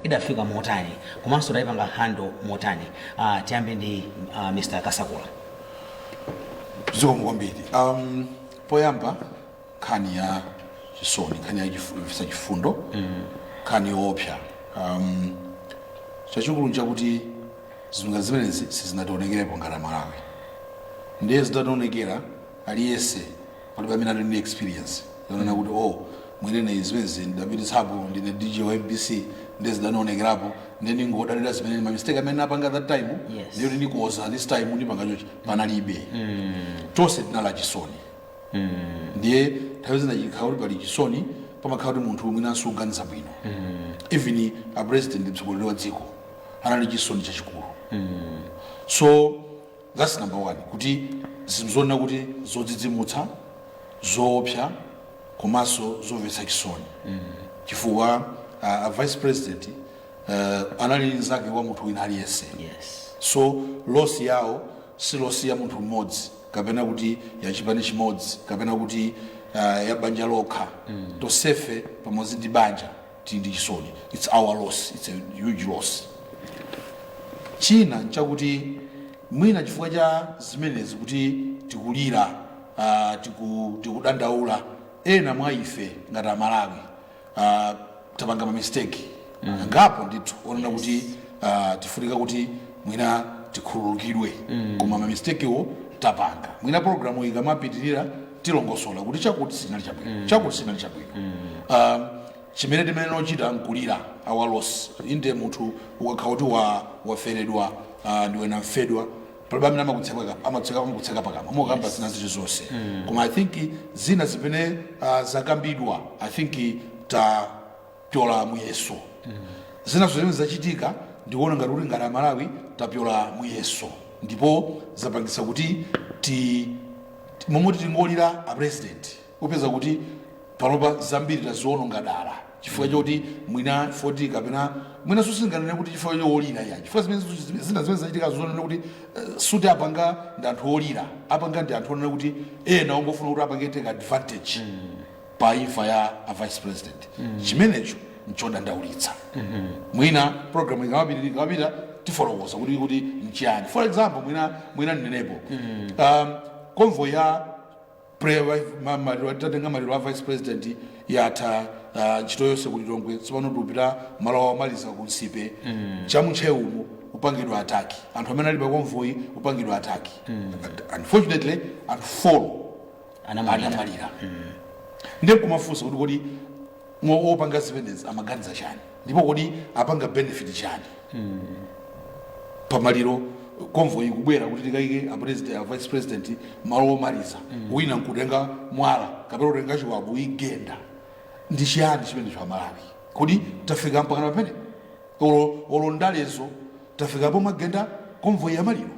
idafika motani komanso taipanga handle motani uh, tiyambe ndi uh, Mr. Kasakula zikomo kwambiri um, poyamba nkhani ya chisoni nkhani ya chifu- yomvetsa chifundo nkhani yoopsa um, chachikulu nchakuti zinthu zimenezi sizinationekerepo ngati amalawi ndiye zitationekera aliyense palibe amene ali ndi experience yonena kuti oh mwinene zimenezi ndidapititsapo ndine dj wa mbc ndiye zidanionekerapo ndiye ndingodalira zimene ma mistake amene ndinapanga that time Yes. ndiye kuti ndikoza this time ndipanga chochi panalibe tonse tinali achisoni ndiye nthawi zina chikhala kuti pali chisoni pamakhala kuti munthu mwina suuganiza bwino even a president mtsogoleri wa dziko anali chisoni chachikulu so That's number one kuti zinthu zonena kuti zodzidzimutsa zoopsa komanso zomvetsa chisoni chifukwa uh, a vice president uh, anali mnzake wa munthu wina aliyense yes so loss yawo si loss ya munthu mmodzi kapena kuti ya chipani chimodzi kapena kuti uh, ya banja lokha mm. tonsefe pamodzi ndi banja tili ndi chisoni it's our loss it's a huge loss china nchakuti mwina chifukwa cha zimenezi kuti tikulira uh, tiku, tikudandaula ena mwa ife ngati amalawi uh, tapanga mamisteki mm. angapo ndithu onena yes. kuti uh, tifunika kuti mwina tikhululukidwe mm. koma mamistekiwo tapanga mwina programu ikamapitirira tilongosola kuti chakuti sinali chabwino chakuti sinali chabwino Ah, chimene timayenera kuchita nkulira our loss inde munthu ukakhala kuti wa- waferedwa ah, ndiwe namfedwa palibe amene amakutseka- amatseka- amakutseka pakamwa mokamba zina zili zonse koma i think zina zimene ah, zakambidwa i think ta tapyola muyeso zina zimene zachitika ndikuona ngati kuti ngati amalawi tapyola muyeso ndipo zapangitsa kuti ti momwe tikulira a president upeza kuti panopa zambiri taziononga dala chifukwa choti mwina fault kapena mwina sitinganene kuti chifukwa cholira ya chifukwa zimene zimene- zina zimene zachitika zonena kuti eh, sikuti apanga ndi anthu olira apanga ndi anthu onena kuti ena ongofuna kuti apange take advantage pa imfa ya a vice president chimenecho nchodandaulitsa mwina program ikamapita ikamapita tifotokoza kuti kuti nchiyani for example mwina mwina ndinenepo um, convoy ya prayer wife ma- maliro tatenga maliro a vice president yatha ah, ntchito yonse ku lilongwe tsopano tikupita malo awo omaliza ku nsipe cha mu Ntcheumo upangidwa ataki anthu amene ali pa convoy upangidwa ataki unfortunately anthu folo Anamwalira. anamwalira ndiye kumafunsa kuti kodi opanga zimenezi amaganiza chani ndipo kodi apanga benefit chani pamaliro convoy ikubwera kuti tikayike a president- a vice president malo omaliza wina nkutenga mwala kapena kutenga chiwabu kuyigenda ndi chiyani chimenecho amalawi kodi tafika mpakana pamene olo olo ndalezo tafika pomagenda convoy yamaliro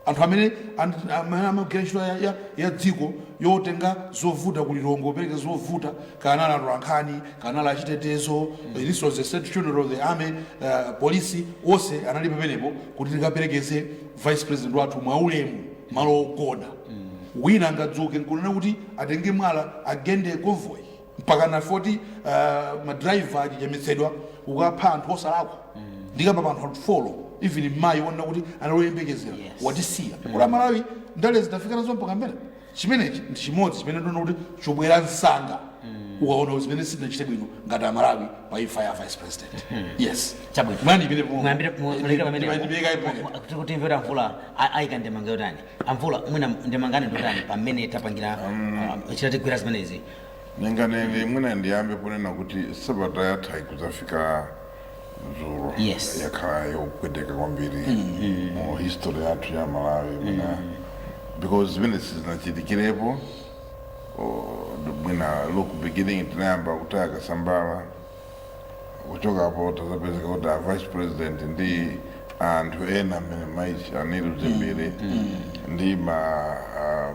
Anthu amene and- amene amagwira ntchito ya, ya, ya dziko yotenga zovuta kuli kongopereka zovuta kunali atolankhani kunali achitetezo this was the state funeral the army uh, polisi onse anali pamenepo kuti tikaperekeze vice president wathu mwaulemu malo ogona wina angadzuke nkunena kuti atenge mwala agende convoy mpakana foti uh, madriver kuchichimutsidwa kukapha anthu osalakwa ndikamba pa anthu anthu folo even mmayi wonena kuti analoyembekezera Yes. watisiya kodi amalawi ndale zitifika nazo mpaka mbele chimenechi ndi chimodzi chimene ndiona kuti chobwera msanga ukaona kuti zimene sitinachite bwino ngati amalawi pa imfa ya vice president yes Chabwino. mwani imene po- Mwambire- mwa- ndi- mwambire pamene- ndi- ndibeka ipo ine. mwa- kuti- kuti mvera amvula a- ayika ndemanga yotani amvula mwina ndemanga yanu ndiyotani pamene tapangira ah, chitatigwira zimenezi ndinganene mwina ndiyambe ponena kuti sabata yatha kudzafika dzulo Yes. yakhala yopweteka kwambiri mu history yathu ya malawi mwina because zimene sizinachitikirepo oh, mwina look beginning tinayamba kutaya Kasambara kuchokapo tazapezeka kuti a vice president ndi anthu ena amene madam Shanil Dzimbiri ndi ma ah,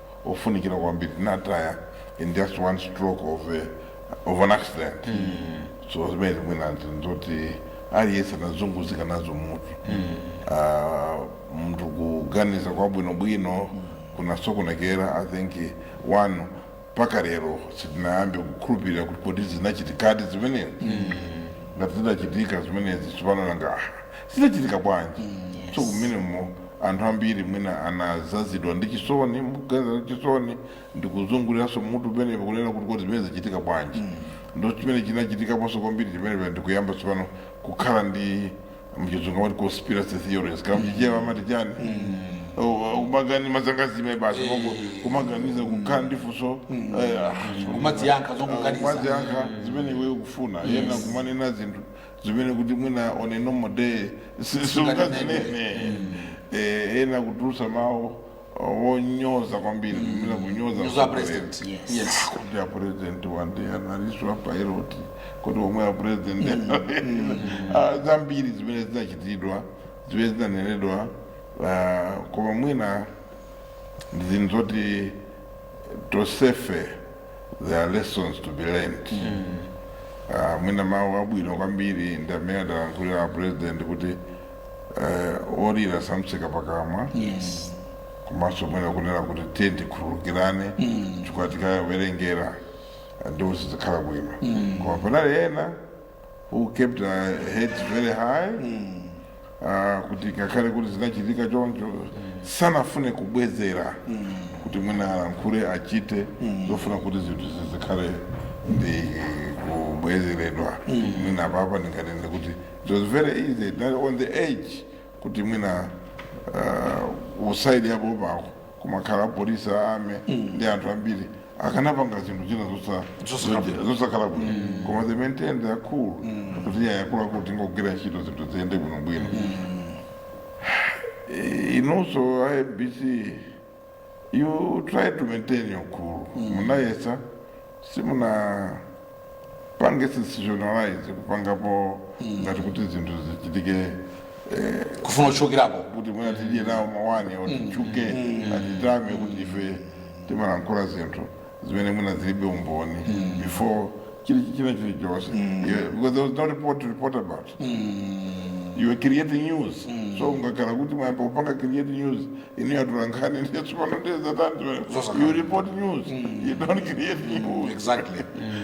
ofunikira kwambiri tinataya in just one stroke of, a, of an accident so zimenezi mwina ndizoti aliyense anazunguzika nazo mutu Ah, munthu kuganiza kwabwinobwino kunasokonekera i think eh, one mpaka lero sitinayambe kukhulupirira kuti kodi zinachitikadi zimenezi ngati zinachitika zimenezi tsopano nanga ah, zinachitika bwanji so kumenemo anthu ambiri mwina anazazidwa ndi chisoni mkwiyo ndi chisoni ndikuzunguliranso mutu penepo kunena kuti kodi zimenezi zachitika bwanji ndo chimene chinachitikaponso kwambiri chimenecho ndikuyamba tsopano kukhala ndi mchizungu amati conspiracy theories kaya mchichewa amati chani kumagani mazangazimi basi mongo kumaganiza kukhala ndi funso eh, ah, kumadziyankha zongoganiza kumadziyankha zimene iwe ukufuna kenako kumanena zinthu zimene kuti mwina on a normal day sungazinene Eh, ena kutulusa mawu wonyoza kwambiri mwina kunyoza a president. Yes. Yes. kuti a president wandi analiswa pilot kuti omwe a president Ah, zambiri zimene zinachitidwa zimene zinanenedwa ah, koma mwina ndi zinthu zoti tosefe there are lessons to be learned Ah, mwina mawu abwino kwambiri ndi amene adalankhulira a president kuti eh, olira samtseka pakamwa yes komanso mwina kunena kuti tiye tikhululukirane chifukwa tikawerengera ndipo sizikhala bwino koma panali ena who kept their heads very high ah, kuti ngakhale kuti zinachitika choncho sanafune kubwezera kuti mwina alankhule achite zofuna kuti zinthu zizikhale ndi kubwezeredwa mwina apapa ndinganene kuti it was very easy that on the edge kuti mwina ah, usayidi yapoyo pako kumakhala apolisi a army ndi anthu ambiri akanapanga zinthu zina zosa- zosakhala bwino koma they maintained their cool kuti iyayi akuluakulu tingogwira ntchito zinthu ziyende bwinobwino Eh, inunso a mbc you try to maintain your cool munayesa simuna pange sensationalize kupangapo ngati kuti zinthu zichitike eh, kufuna kuchokerapo kuti mwina tidye nawo mawani oti titchuke atitame kuti ife timalankhula zinthu zimene mwina zilibe umboni before chili china chilichonse Yeah, because there was no report to report about you were creating news so mukakhala kuti mwayamba kupanga create news muniyatula nkhani ndiye tsopano ndiye zatani you report news you don't create news exactly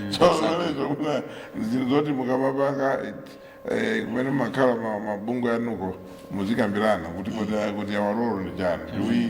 so zimenezo mwina zinthu zoti mukamapanga it- eh, kumene mumakhala ma- mabungwe anuko muzikambirana kuti kuti- kuti awalolo ndi chani do we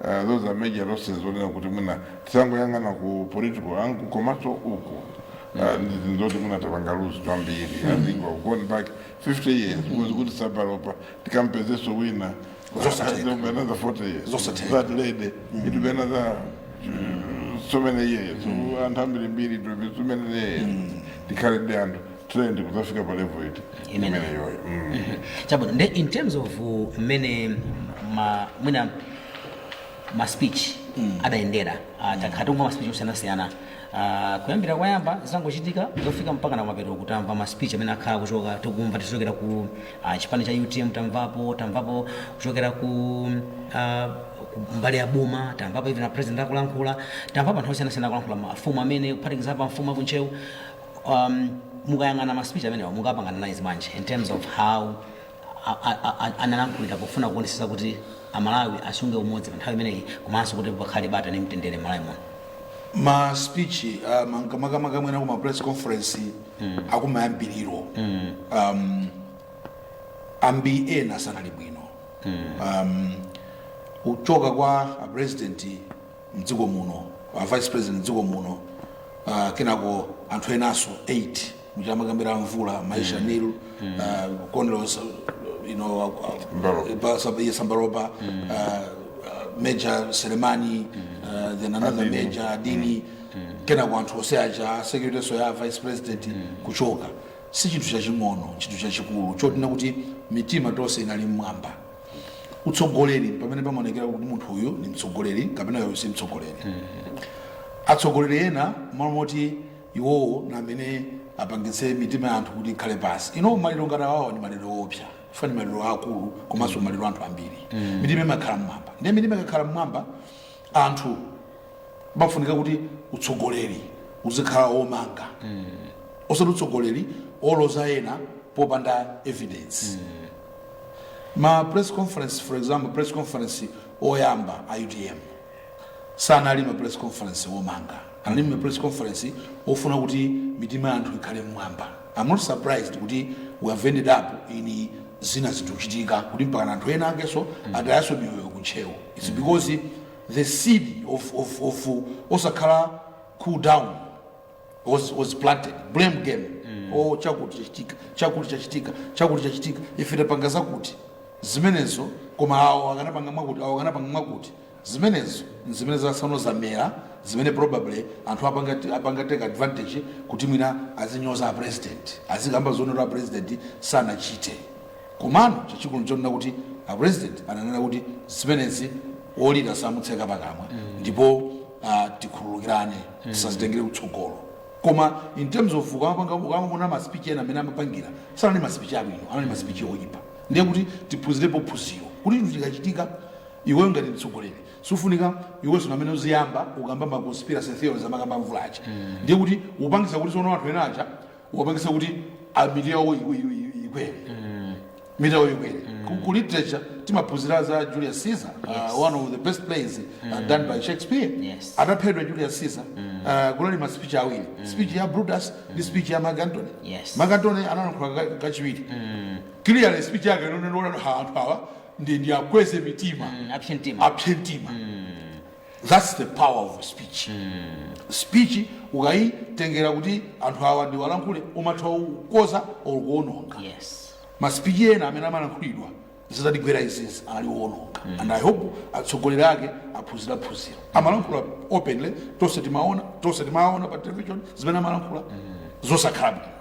Uh, those are major losses onena kuti mwina tisangoyang'ana ku political angle komanso uku uh, ndizoti mwina tapanga luzi kwambiri i think we've gone back 50 years because kuti sabalopa tikampezeso wina Zosatheka. There will be another 40 years that lady it will be another uh, so many years anthu ambirimbiri it will be so many years tikhale ndi anthu trained kudzafika pa level imeneyoyo mm. chabwino nde in terms of uh, mmene ma- mwina ma speech adayendera ah, takhala tikumva ma speech osiyanasiyana Ah, kuyambira kwayamba zitangochitika zofika mpaka na mapeto kutamva ma speech amene akhala kuchoka tikumva tichokera ku ah, chipani cha utm tamvapo tamvapo kuchokera ku ah, ku mbali ya boma tamvapo even a president akulankhula tamvapo anthu osiyanasiyana akulankhula mafumu amene kuphatikizapo amfumu akuntcheu um, mukayang'ana ma speech amenewa mukapanga analyze bwanji in terms of how a- a- a- a- analankhulira pofuna kuonesesa kuti amalawi asunge umodzi pa nthawi imeneyi komanso kuti pakhale bata ndi mtendere mmalawi muno ma speech uh, makamaka mwina kuma press conference mm. akumayambiriro mm. um, ambiri ena sanali bwino mm. um, kuchoka kwa a president mdziko muno a vice president mdziko muno uh, kenako anthu enaso 8 muja amakambira a mvula mai Shanil uh, Colonel you know, uh, Sambalopa. Ba- Sab- yes, Sambalopa, uh, uh, Major Selemani, uh, then another Aidin. Major Aidin, kenako anthu onse aja security so ya vice president kuchoka si chinthu chaching'ono chinthu chachikulu chotina kuti mitima tonse inali mmwamba utsogoleri pamene pamaonekera kuti munthu uyu ndi mtsogoleri kapena uyu si mtsogoleri atsogoleri ena malo moti iwowo na amene apangitse mitima ya anthu kuti ikhale pasi you know maliro ngati awawa ndi maliro oopsa chifukwa ndi maliro akulu komanso maliro anthu ambiri mitima imakhala mmwamba ndiye mitima ikakhala mmwamba anthu pafunika kuti utsogoleri uzikhala womanga osati utsogoleri oloza ena popanda evidence ma press conference for example press conference oyamba a utm sanali ma press conference omanga anali ma press conference ofuna kuti mitima ya anthu ikhale mmwamba i'm not surprised kuti we have ended up in zina zikuchitika kuti mpaka anthu ena akenso atayaso miyoyo ku Ntcheu it's because the seed of, of, of osakhala cool down was, was planted blame game oh chakuti chachitika chakuti chachitika chakuti chachitika ife tapanga zakuti zimenezo koma awo akanapanga mwakuti awo akanapanga mwakuti zimenezo nzimene zasano zamera zimene probably anthu apanga apanga take advantage kuti mwina azinyoza a president azikamba zonena a president sanachite komano chachikulu nchonena kuti a president ananena kuti zimenezi olira samutseka pakamwa ndipo ah, tikhululukirane tisazitengere kutsogolo koma in terms of ukamapanga ukamaona maspeech ena amene amapangira sanali maspeech abwino anali maspeech oyipa ndiye kuti tiphunzirepo phunziro kuti chinthu chikachitika iweyo ngati mtsogoleri sufunika iwenso namene uziyamba kukamba ma conspiracy theories amakamba a mvula aja ndiye kuti upangisa kuti tsono anthu ena aja wapangisa kuti a mitima yawo i- i- i- ikwere mitima yawo ikwere Ku- ku literature timaphunzira za julius caesar Yes. uh, one of the best plays uh, done by shakespeare Yes. ataphedwa julius caesar uh, kunali ma speech awiri speech ya brutus ndi speech ya mark antony Yes. mark antony analankhula ka- kachiwiri clearly speech yake inali yonena anthu awa ndi ndiwakweze mitima apse mtima apse mtima That's the power of speech. Speech ukaitengera kuti anthu awa ndiwalankhule umatha kukonza or kuononga. yes Maspeech ena amene amalankhulidwa zitatigwera izizi ali oononga. And I hope atsogoleri ake aphunzira phunzira. Amalankhula openly tonse timaona tonse timaona pa television zimene amalankhula zosakhala bwino.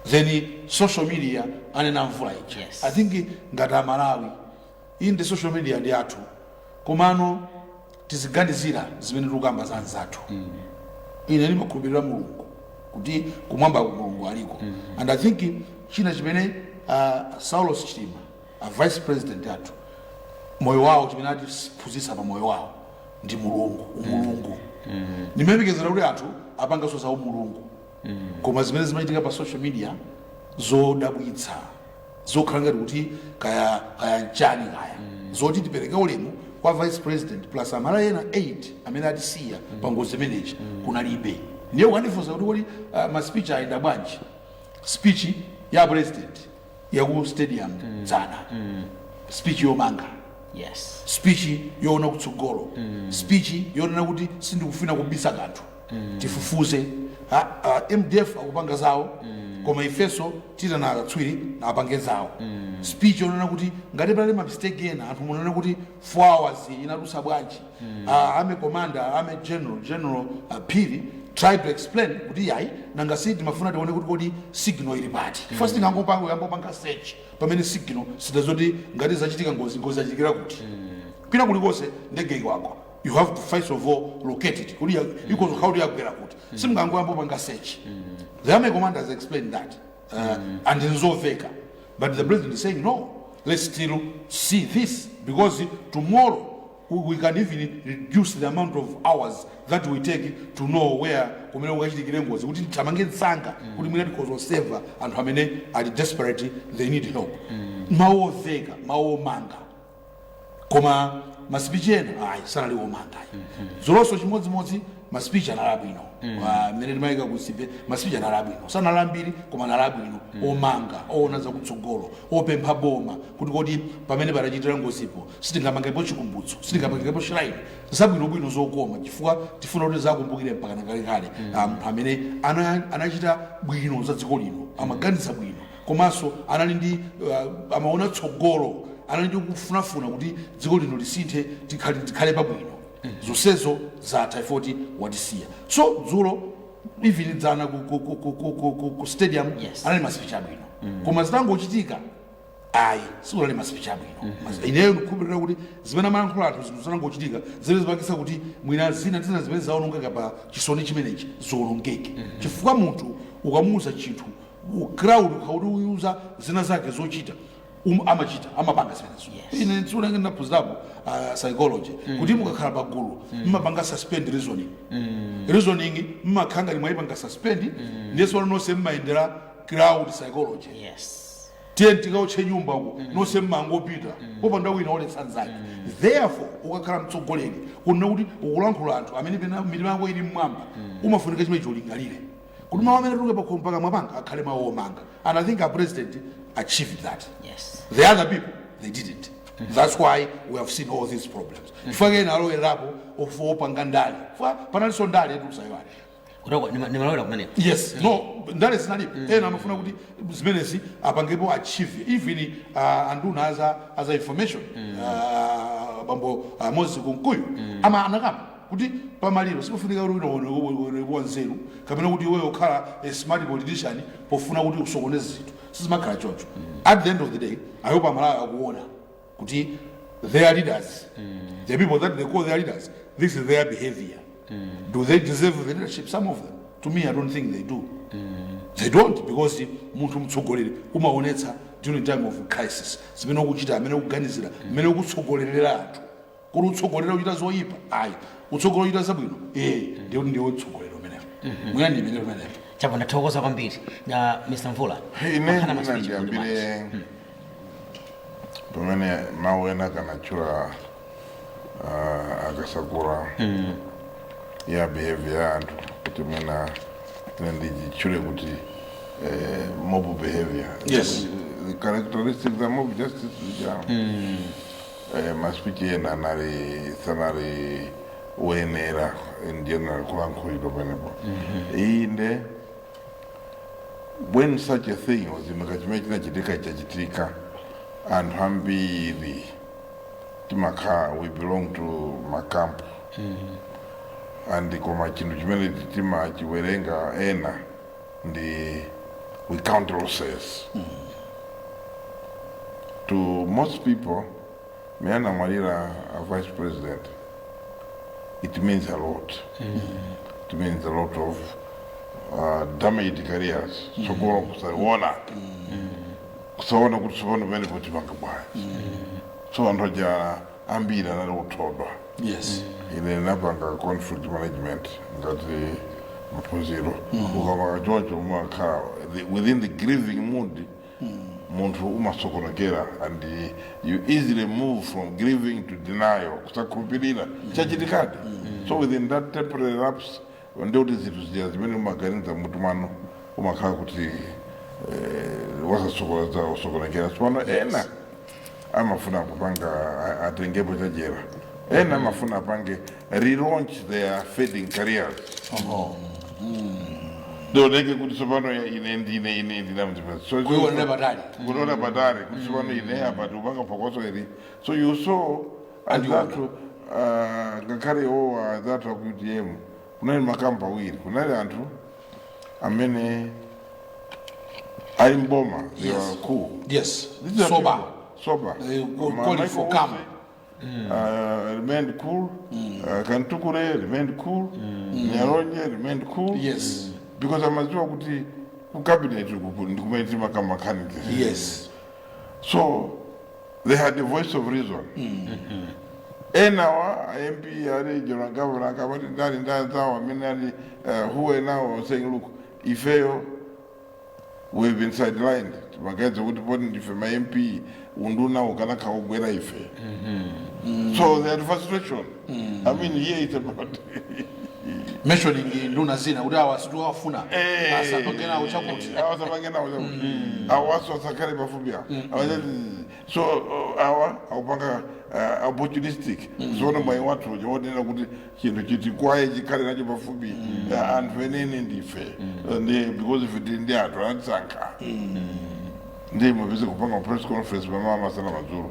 Then social media anena a Mvula ija. Yes. I think ngati amalawi Inde social media ndi yathu komano tiziganizira zimene tikukamba za anzathu ine ndimakhulupirira mulungu kuti kumwamba mulungu aliko and i think china chimene uh, saulos chilima a vice president athu moyo wawo chimene atiphunzitsa pa moyo wawo ndi mulungu umulungu ndimayembekezera kuti anthu apanganso za umulungu koma zimene zimachitika pa social media zodabwitsa zokhala ngati kuti kaya kaya nchani kaya zoti tipereke ulemu kwa vice president plus amalawi ena 8 amene atisiya pa ngozi imeneyi kunalibe ndiye ukandifunsa kuti kodi ah, ma speech ayenda bwanji speech ya a president yaku stadium dzana speech yomanga yes speech yoona kutsogolo speech yonena kuti sindikufuna kubisa kanthu tifufuze A- a- mdf akupanga zawo koma ifenso tiitana akatswiri nawo apange zawo speech yonena kuti ngati panali ma mistake ena anthu munena kuti 4 hours inadutsa bwanji Ah, army commander army general general ah, phiri try to explain kuti iyayi nanga si timafuna tione kuti kodi signal ili pati chifukwa sitingangopanga kuyamba kupanga search pamene signal sitidziwa kuti ngati zachitika ngozi ngozi zachitikira kuti kwina kulikonse ndege igwako you have to first of all locate it kuti ikhoza kukhala kuti yagwera kuti simungangoyamba panga search the army commander has explained that uh, and nzoveka but the president is saying no let's still see this because tomorrow we we can even reduce the amount of hours that we take to know where kumene kukachitikire ngozi kuti tithamange msanga kuti mwina tikhoza kuseva anthu amene ali desperate they need help mawu oveka mawu omanga koma masipichi ena ayi sanali omanga ayi dzulonso chimodzimodzi masipichi anali abwino Ah, mmene timayika ku Nsipe masipichi anali abwino sanali ambiri koma anali abwino omanga oona zakutsogolo opempha boma kuti kodi pamene panachitikira ngozipo sitingamangepo chikumbutso sitingamangepo shrine zabwinobwino zokoma chifukwa tifuna kuti tizakumbukire mpaka nakalekale Ah, munthu amene ana- anachita bwino za dziko lino amaganiza bwino komanso anali ndi uh, amaona tsogolo anali ndi kufunafuna kuti dziko lino lisinthe tikhale, tikhale pabwino zonsezo zatha ife poti watisiya so dzulo even dzana ku, ku, ku, ku, ku, ku, ku, ku stadium Yes. anali masipichi abwino koma zitangochitika ayi sikunali masipichi abwino Mas- ineyo ndikukhulupirira kuti zimene amalankhula anthu zinthu zitangochitika zimene zipangisa kuti mwina zina zina zimene zawonongeka pa chisoni chimenechi ziwonongeke chifukwa munthu ukamuuza chinthu mu crowd ukha- ukawauza zina zake zochita um, amachita amapanga zimenezo Yes. ine tsiku lange ndinaphunzirapo uh, psychology kuti mukakhala pa gulu mmapanga suspend reasoning reasoning mmakhala ngati mwayipanga suspend ndiyeso nonse mmayendera crowd psychology yes tiye tikaotche nyumba uko nonse mmangopita popanda wina oletsa nzake therefore ukakhala mtsogoleri kunena kuti ukulankhula anthu amene mitima yako ili mmwamba umafunika chimene cholingalire kuti mawu amene atuluke pakhomo pakamwa panga akhale mawu omanga and i think our president achieved that Yes. the other people they didn't that's why we have seen all these problems chifukwa ena alowererapo ofuna kupanga ndale chifukwa panalinso ndale yatulusayiwani Kutoko ni ni malawira kumeneko. yes no ndale zinalipo ena amafuna kuti zimenezi apangepo achieve even uh, anduna aza, aza information uh, bambo uh, Moses Kunkuyu ama anakamba kuti pamaliro sipofunika kuti uoneke wanzeru kapena kuti iweyo ukhala a smart politician pofuna kuti usokoneze zinthu sizimakhala choncho at the end of the day i hope amalawi akuona kuti their leaders the people that they call their leaders this is their behavior do they deserve the leadership some of them to me i don't think they do they don't because munthu mtsogoleri umaonetsa during time of crisis zimene ukuchita amene ukuganizira amene ukutsogolerera anthu kuti utsogolera kuchita zoyipa ayi utsogolera kuchita zabwino ee ndiye kuti ndiwe utsogoleri umenewo mwina ndi imene umenewo chapa ndathokoza kwambiri a mr mvula ine Akhana ma speech kuti basi. ndiyambire pamene mawu ena ake anatchula ah, akasakura ya behavior ya anthu kuti mwina ine nditchule kuti eh, mob behavior Yes. the characteristics of mob justice which are eh, masipichi ena anali sanali oyenera in general kulankhulidwa pamenepo inde when such a thing was imika chimene chinachitika chachitika anthu ambiri timakhala we belong to makampu and koma chinthu chimene timachiwerenga ena ndi we count losses to most people me anamwalira a vice president it means a lot it means a lot of uh, damaged careers tsogolo kusaona kusaona kuti sopano pamenepo tipanga bwanji so anthu aja ambiri anali othodwa yes ine napanga conflict management ngati maphunziro ukamakhala choncho umakhala the- within the grieving mood munthu umasokonekera and you easily move from grieving to denial kusakhulupirira chachitikadi so within that temporary lapse ndiye kuti zinthu zija zimene umaganiza m'mutumo umakhala kuti eh, wasasokoneza osokonekera tsopano ena amafuna kupanga a- atengepo chajera ena amafuna apange relaunch their fading careers Oho. ndioneke kuti tsopano ya- ine ndine ine ndinamzipesa so Kuiwonera patali. kuiwonera patali kuti tsopano ine apa tikapanga phokoso ili so you saw and you know anzathu ah, ngakhale iwowa anzathu aku utm kunali makamu awiri kunali anthu amene ali mboma they Yes. were cool yes These are sober people- sober They go- Ma- call it for calm. Michael Usi, uh, remained cool uh, Kamtukule remained cool NyaLonje remained cool yes because amaziwa kuti ku cabinet uku ndi kumene timakamba candidates yes so they had a voice of reason enawa mp a regional governor a Kabwila ndani anzawo amene ali uh, who are now saying look ifeyo we've been sidelined amaganiza kuti poti ndife ma mp unduna ukanatigwera ife so they had frustration I mean here is about mentioning nduna zina kuti awa situ afuna Eh. asatokera chakuti awa asamange nawo chakuti awanso asakhale pafupi awo Awachati, so uh, awa akupanga uh, opportunistic kuona mwayi wathu uja wonena kuti chinthu chiti kwaye chikhale nacho pafupi uh, anthu anene ndife Uh, ndi because ife tili ndi anthu anatisankha ndiye mupeze kupanga press conference m'mamawa masana madzulo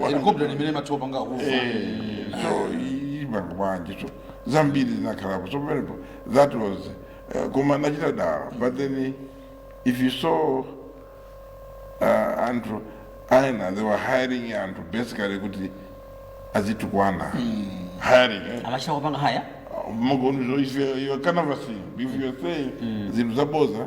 Helicopter imene mathiwa panga kufa. so ipanga bwanji so zambiri zinakhalapo so pamenepo that was uh, koma anachita dala but then if you saw uh, anthu ena they were hiring anthu basically kuti azitukwana hiring eh? Amachita kupanga hire. magonzo if you- you are canvassing if you are saying zinthu zaboza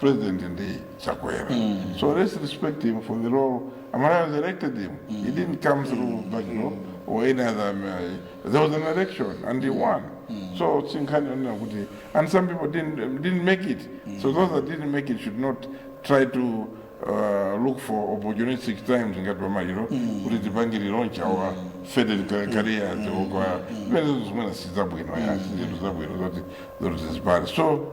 president ndi chakwera so let's respect him for the role amalawi elected him he didn't come through backdoor or any other uh, there was an election and he won so sinkhani onena kuti and some people didn't, didn't make it so those that didn't make it should not try to uh, look for opportunistic times ngati pamaliro kuti tipange launch our faded ca- careers okay zimene zimene sizabwino ya zinthu zabwino zoti zoti zizipale so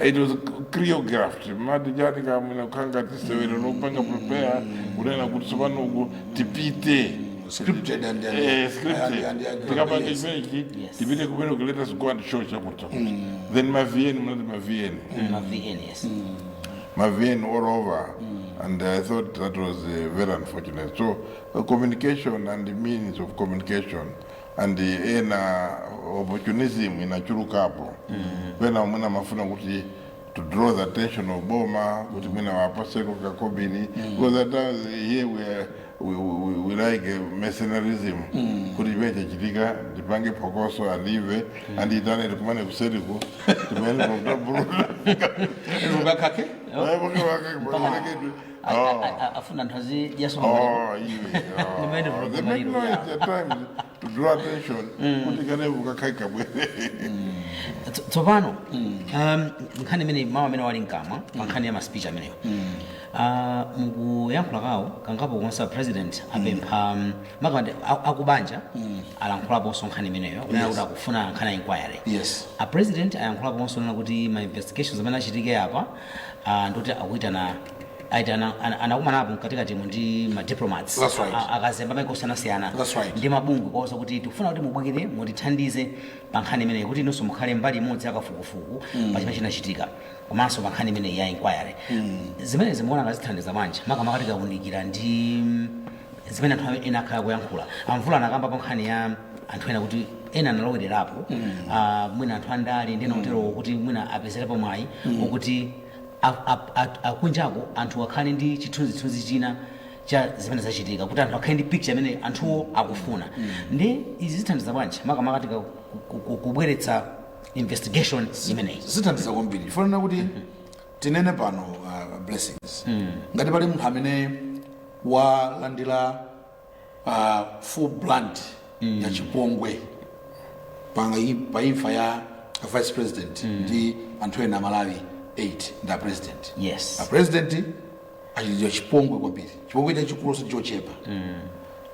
It was choreographed. Mati chati kamwina kukanga tisewero nopanga prepare kunena kuti tsopano uku tipite. Scripted and then Eh, scripted. and- and- Tikapanga yes. imenechi Yes. tipite kumene ku let us go and show chakuti. Then ma VN mnati ma VN. Ma VN, yes. My VN all over. And I thought that was uh, very unfortunate. So uh, communication and the means of communication and ena opportunism inachulukapo pena mwina amafuna kuti to draw the attention of boma kuti mwina awapatseko kakobiri because at times here we, are, we, we, we like eh, mercenarism kuti ichi chachitika tipange phokoso alive and itane tikumane kuseriku timene pakutaburuta Iwe ukakake? Ayi, pake- pake- pake- A- a- a- a- afuna anthu azidyanso Oh, yeah. Ni maende Oh, vurugu they make maliro, noise yeah. at times to draw attention. Kuti kale ukakhaika bwere. Tso- tsopano um, nkhani imene mawu amene ali mkamwa pa nkhani ya maspeech ameneyo Ah, mukuyankhula kwawo kangapo konse a president apempha um, makamaka a- akubanja alankhulaponso nkhani imeneyo kunena kuti akufuna nkhani ya inquiry Yes. a president ayankhulaponso kunena kuti ma investigations amene achitike apa Ah, ndoti akuitana aitana ana- anakumanapo mkatikatimo ndi madiplomats That's right. A- akazembe a maiko osiyanasiyana That's right. ndi mabungwe komanso kuti tikufuna kuti mubwere mutithandize pa nkhani imeneyi kuti inunso mukhale mbali imodzi yakafukufuku pa chimene chinachitika komanso pa nkhani imeneyi ya inquiry zimenezi mukuona ngati zithandiza bwanji makamaka tikaunikira ndi mm, zimene anthu ena akhala akuyankhula a Mvula anakamba pa nkhani ya anthu ena kuti ena analowererapo ah, mwina anthu andale ndi ena oterowo kuti mwina apezerepo mwayi wokuti a- a- a- akunjako anthu akhale ndi chithunzithunzi china cha zimene zachitika kuti anthu akhale ndi picture imene anthuwo akufuna ndi izi zithandiza bwanji makamaka tika ku- ku- ku- kubweretsa investigation imeneyi zithandiza kwambiri ndikufuna kuti tinene pano uh, blessings ngati pali munthu amene walandira pa full brunt mm. ya chipongwe pa, pa imfa ya vice president mm. ndi anthu ena aMalawi 8 ndi apresident yes. apresident achitidwa chipongwe kwambiri chipongwe chachikulu osati chochepa mm.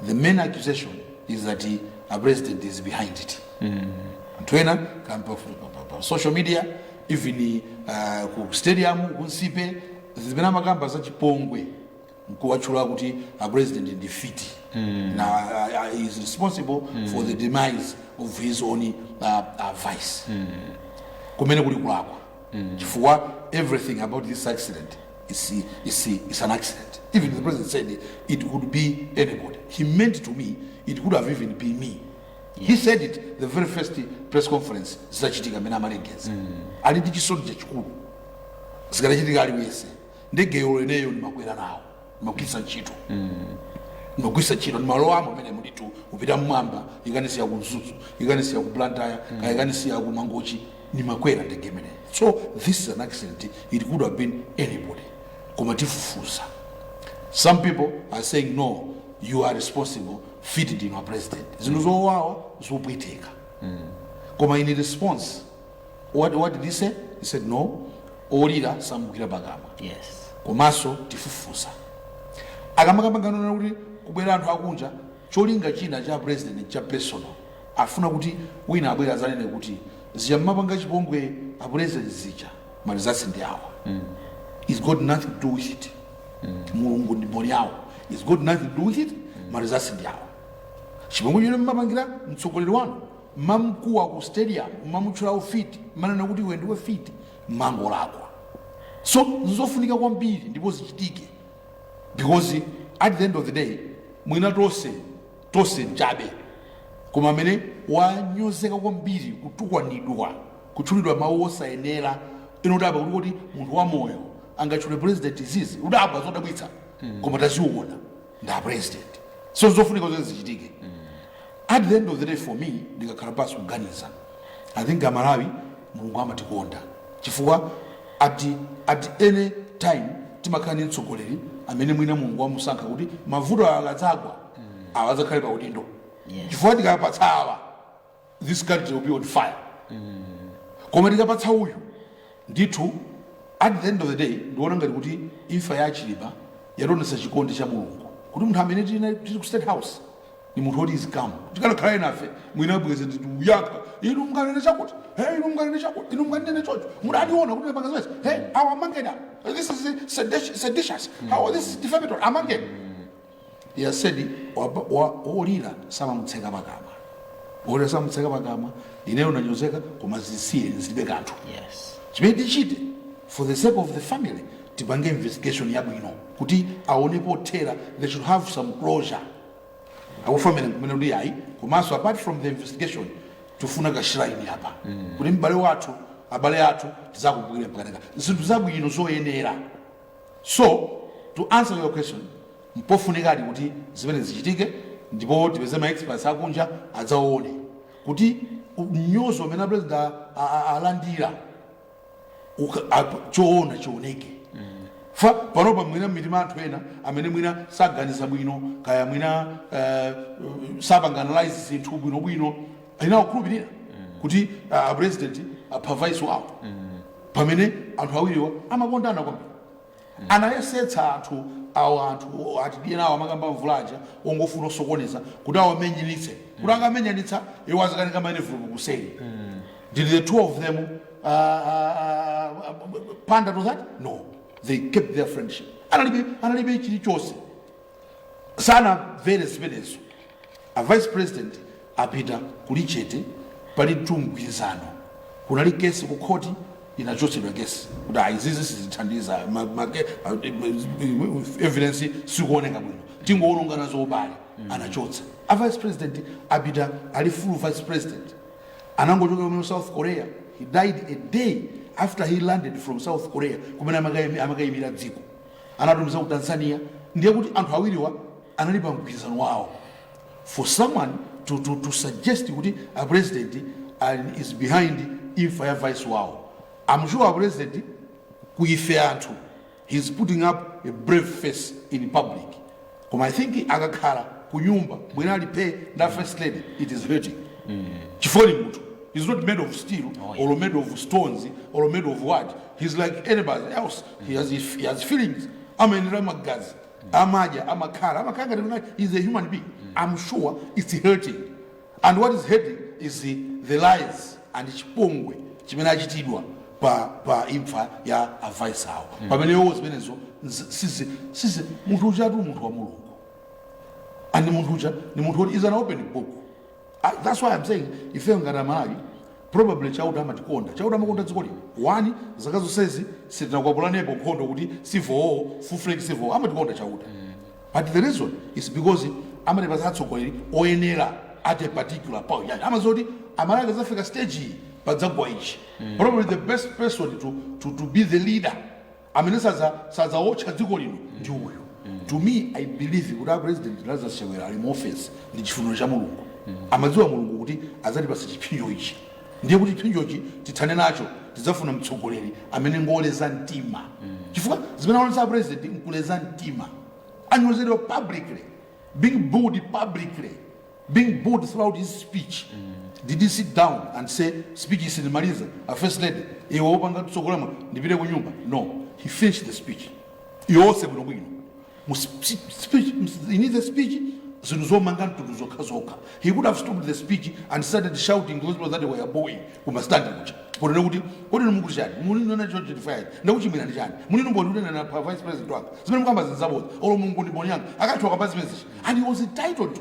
the main accusation is that apresident is behind it mm. anthu ena akamba pa social media even uh, ku stadium ku Nsipe zimene amakamba za chipongwe nkuwatchula kuti a president ndi mfiti na uh, uh, he's responsible for the demise of his own uh, uh, vice kumene kuli kulakwa chifukwa everything about this accident is, is, is an accident even the president said it could be anybody he meant to me it could have even been me he said it the very first press conference zitachitika mmene amalengeza ali ndi chisoni chachikulu zikadachitika aliyense ndege yomweyo ndimakwera nawo ndimagwiritsa ntchito ndimagwiritsa ntchito ndimalowamo momwemo nditu kupita mmwamba ikanisiya ku mzuzu ikanisiya ku blantyre kaya ikanisiya ku mangochi ndimakwera ndege imeneyo so this is an accident it could have been anybody koma tifufuza some people are saying no you are responsible mfiti ndinu a president zinthu zowawa zopweteka koma in response what, what did he say he said no wolira samugwira pakamwa yes komanso tifufuza akamakambangana kuti kubwera anthu akunja cholinga china cha president cha personal afuna kuti wina abwere azanene kuti zija mmapanga chipongwe a president zija maresults ndi awa it's got nothing to do with it mulungu ndi mboni yawo it's got nothing to do with it maresults ndi awa chipongwe chimene mmapangira mtsogoleri wanu mmamkuwa ku stadium mmamutchula ufiti mmanena kuti iwe ndiwe mfiti mmangolakwa so nzofunika kwambiri ndipo zichitike because at the end of the day mwina tonse tonse nchabe koma amene wanyozeka kwambiri kutukwanidwa kutchulidwa mawu osayenera iwe udabwa kuti kuti munthu wamoyo angatchule president izizi udabwa zodabwitsa koma taziona ndi apresident so zofunika zedi zichitike at the end of the day for me ndikakhala pansi kuganiza i think amalawi mulungu amatikonda chifukwa at, at any time timakhala ndi mtsogoleri amene mwina mulungu wamusankha kuti mavuto awa akadzagwa awa adzakhale pa udindo chifukwa tikapatsa awa this country will be on fire koma tikapatsa uyu ndithu at the end of the day ndiona ngati kuti imfa ya achilima yationetsa chikondi cha mulungu kuti munthu amene tili tili ku state house ndi munthu woti is calm tikanakhala enafe mwina bwenzi tikuyaka inu mukanene chakuti he inu mukanene chakuti inu mukanene chocho mudationa kuti napanga zimenezi he awa amangeni awa. this is seditious- seditious how this is defamatory amangeni He has said "Waba- wa- wolira samamutseka pakamwa wolira samamutseka pakamwa ineyo ndanyozeka koma zisiye zilibe kanthu Yes. chimene tichite for the sake of the family tipange investigation yabwino kuti aone pothera they should have some closure akhutire kumene kuti ayi komanso apart from the investigation tifuna ka shrine apa kuti m'bale wathu abale athu tizakumbukire mpaka zaka zinthu zabwino zoyenera So, to answer your question, mpofunikadi kuti zimenezi zichitike ndipo tipeze ma experts akunja adzaone kuti u- mnyozo umene apresident a- a- a- alandira uka- ap- choona chioneke fa panopa mwina mitima anthu ena amene mwina saganiza bwino kaya mwina eh, sapanga analyze zinthu bwinobwino ina ikukhulupirira kuti ah, a president apha vice wawo pamene anthu awiriwa amakondana kwambiri anayesetsa anthu awo anthu atidye nawo amakamba mvula aja ongofuna osokoneza kuti awamenyanitse kuti akamenyanitsa iwo azikanika ma envelope kuseri did the two of them uh, uh, uh, pander to that no they kept their friendship analibe analibe chilichonse sanamvere zimenezo a vice president apita kuli chete palitu mgwirizano kunali kesi ku khoti inachotsedwa kesi kuti ayi izizi sizithandiza ma- ma- ke- ah, eh, evidence sikuoneka bwino tingoononga nazo ubale anachotsa a vice president apita ali full vice president anangochoka kumene south korea he died a day after he landed from south korea kumene amakaimi- amakayimira dziko anatumiza ku tanzania ndiye kuti anthu awiriwa anali pa mgwirizano wawo for someone to, to, to suggest kuti a president is behind imfa ya vice wawo i'm sure a president kuife anthu he's putting up a brave face in public Koma I think akakhala kunyumba mwina ali phee ndi a first lady it is hurting chifukwa ni munthu he is not made of steel Oh, yeah. or made of stones or made of what he is like anybody else he has, he has feelings amayendera magazi amadya amakhala amakhala ngati mwina he is a human being i'm sure it's hurting And what is hurting is the lies and chipongwe chimene achitidwa pa pa imfa ya a vice awo pamene iwowo zimenezo nzi- sizi sizi munthu ujatu munthu wa mulungu and munthu uja ni munthu woti is an open book I, that's why i'm saying ife ngati amalawi probably chauta amatikonda chauta amakonda dziko lino onani zaka zonsezi sitinakwapulanepo nkhondo kuti civil war full-fledged civil war amatikonda chauta But the reason is because amatipatsa atsogoleri oyenera at a particular point. Yani amadziwa kuti Amalawi akadzafika stage iyi padzagwa ichi. Probably the best person to, to, to be the leader amene sadza- sadzawotcha dziko lino ndi uyu. To me, I believe kuti a president Lazarus Chakwera ali mu office ndi chifuniro cha Mulungu. Amadziwa Mulungu kuti adzatipatsa chiphinjo ichi. ndiye kuti chipsinjochi tithane nacho tidzafuna mtsogoleri amene ngoleza mtima chifukwa zimene aonesa president nkuleza mtima anyozedwa publicly being booed publicly being booed throughout his speech did he sit down and say speech yi sindimaliza a first lady iwe wopanga tsogolama ndipite ku nyumba no he finished the speech yonse bwinobwino mu sp- speech mu- in his speech zinthu zomanga mtundu zokha zokha he could have stopped the speech and started shouting those people that were booing kuma stand kuja ponena kuti kodi inu mukuti chani muli nona cho chitifayi ndakuchimwirani chani muli ndi umboni kunena pa vice president wanga zimene mukambazi nzaboza olo mulungu ndi mboni yanga akachoka pa zimene zichi and he was entitled to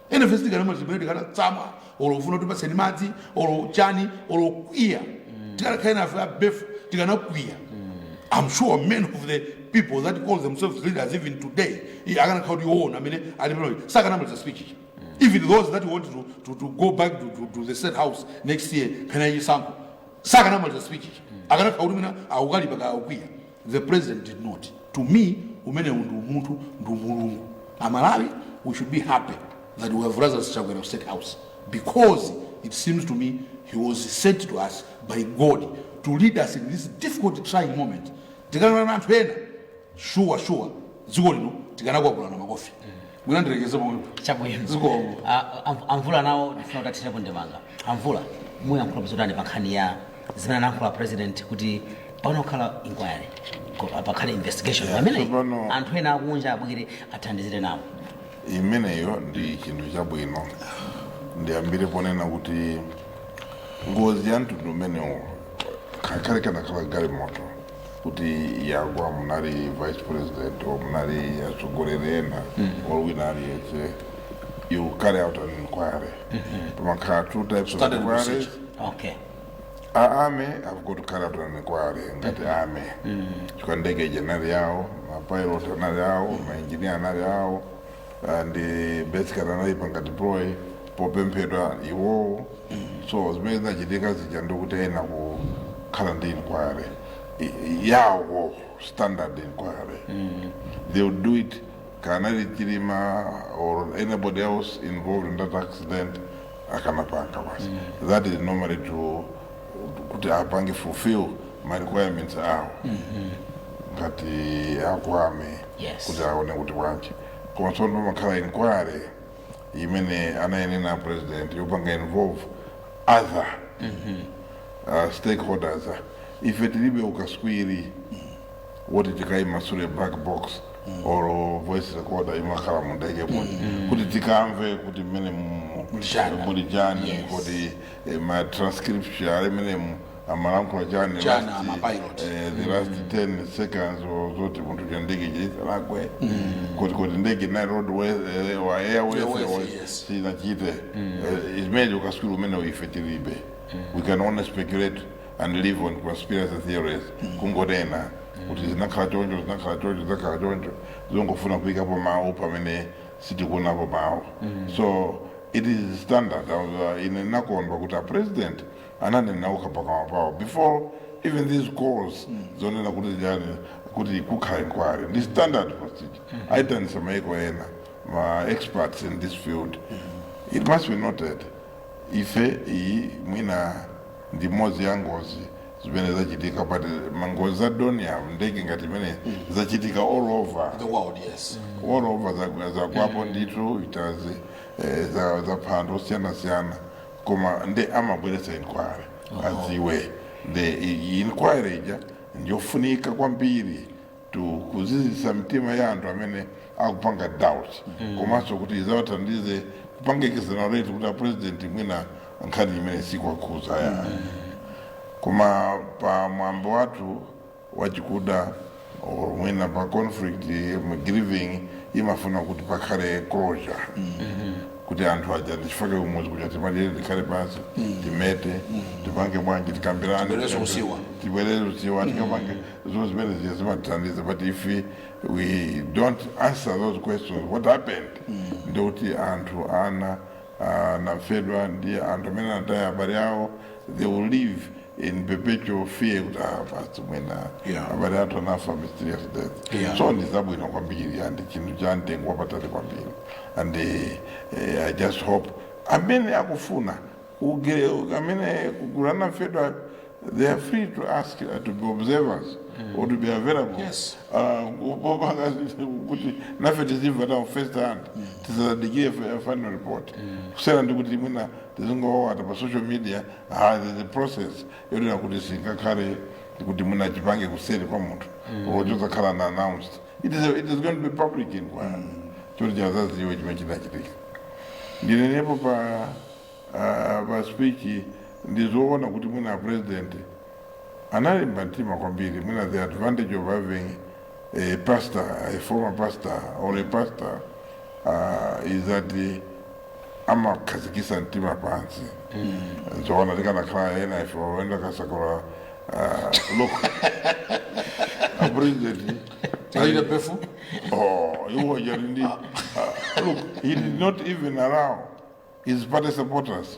enafe sitikanamwa zimene tikanatsamwa olo kufuna tipatseni madzi olo chani olo kukwiya tikanakhala enafe abefu tikanakwiya i'm sure many of the people that call themselves leaders even today i- akanakhala kuti iwo ndi amene ali pano sakanamaliza speech ija even those that want to, to, to go back to, to, to the state house next year kana ichisankho sakanamaliza speech ija akanakhala kuti mwina akukalipa ka akukwiya The president did not. To me, umenewu ndi umunthu ndi umulungu. Amalawi, we should be happy that we have Lazarus Chakwera of State House because it seems to me he was sent to us by God to lead us in this difficult trying moment. Tikana na anthu ena, sure sure, dziko lino tikanakwapulana makofi. mwina ndilekeze pomwepo chabwino Zikomo. Ah, am- a mvula nawo ndifuna kuti athirepo ndemanga a mvula muyankhulapo zotani pa nkhani ya zimene anayankhula president kuti payenera kukhala inquiry ko- ah, pakhale investigation pamene tsopano- anthu ena akunja abwere athandizire nawo imeneyo ndi chinthu chabwino ndiyambire ponena kuti ngozi ya mtundu umenewo ngakhale ikanakhala galimoto kuti yagwa munali vice president or munali atsogoleri ena or wina aliyense you carry out an inquiry pamakhala two types of Standard inquiries procedure. okay a army have got to carry out an inquiry ngati army chifukwa ndege ija inali yawo mapilot anali awo mainjinia anali awo and eh, basically anayipanga deploy popemphedwa iwowo so zimene zinachitika zija ndikuti ayenera kukhala ndi inquiry i- i- yawo standard inquiry they would do it kaya anali chilima or anybody else involved in that accident akanapanga basi that is normally to kuti apange fulfill ma requirements awo ngati a ku army Yes. kuti aone kuti bwanji koma tsono pamakhala inquiry imene anayinena president yopanga involve other uh, stakeholders ife tilibe ukaswiri woti tikayimasule black box or voice recorder imakhala mu ndege kuti kuti tikamve kuti mmenemu Muli chani. muli chani Yes. kuti eh, ma transcription ali mmenemu amalankhula chani last- eh, the last 10 seconds or zoti munthu cha ndege chisalakwe kuti kuti ndege na roadways or airways, airways yes. sinachite Eh, imene ukatswiri umene uife tilibe we can only speculate and live on conspiracy theories kungonena kuti zinakhala choncho zinakhala choncho zinakhala choncho zongofuna kuyikapo mawu pamene sitikuonapo mawu so it is standard uh, ine nakondwa kuti a president ananena okha pakamwa pawo before even these calls zonena kuti chani kuti kukhala inquiry ndi standard procedure aitanisa maiko ena ma experts in this field it must be noted ife iyi mwina ndi imodzi ya ngozi zimene zachitika but mangozi za donya ndege ngati imene zachitika all over the world yes all over za- zakwapo ndithu itazi eh, za- zapha anthu osiyana-siyana koma nde amabweretsa inquiry adziwe nde i- i- inquiry ija ndiyofunika kwambiri to kuzizisa mitima ya anthu amene akupanga doubt komanso kuti izawathandize kupanga exonerate kuti a president mwina nkhani imene sikuwakhudza ya koma pa mwambo wathu wachikuda or mwina pa conflict grieving imafuna kuti pakhale closure kuti anthu aja ndichifake kumudzi kuja timalire tikhale pansi timete tipange bwanji tikambirane tibwereze usiwa tikapange zo zimene ziya zimatithandiza but if we don't answer those questions what happened ndikuti anthu aja anafedwa ndi anthu amene anataya abale awo they will leave in perpetual fear kuti ah, basi mwina Yeah. abale athu anafa mysterious death Yeah. so ndi zabwino kwambiri and chinthu cha mtengo wapatali kwambiri and eh, i just hope amene akufuna amene kuguluku anamfedwa they are free to ask uh, to be observers or to be available Yes. Ah, popanga kuti nafe tizimva tawo first hand tisadikire fa- final report kusiyana ndi kuti mwina tizingowawata pa social media Ah, the, the process yonena kuti singakhale kuti mwina chipange kuseri kwa munthu or chosakhala na announced it is, a, it is going to be public inquiry choti tizaziwe chimene chinachitika ndinenepo pa ah, pa speech ndizoona kuti mwina president analimba mtima kwambiri mwina the advantage of having a pastor a former pastor or a pastor uh, is that uh, amakhazikisa mtima pansi zoona tikanakhala ena ife oyenda kasakula look apurezidenti Tikachita befu. Oh, you were just indeed. Uh, look, he did not even allow his party supporters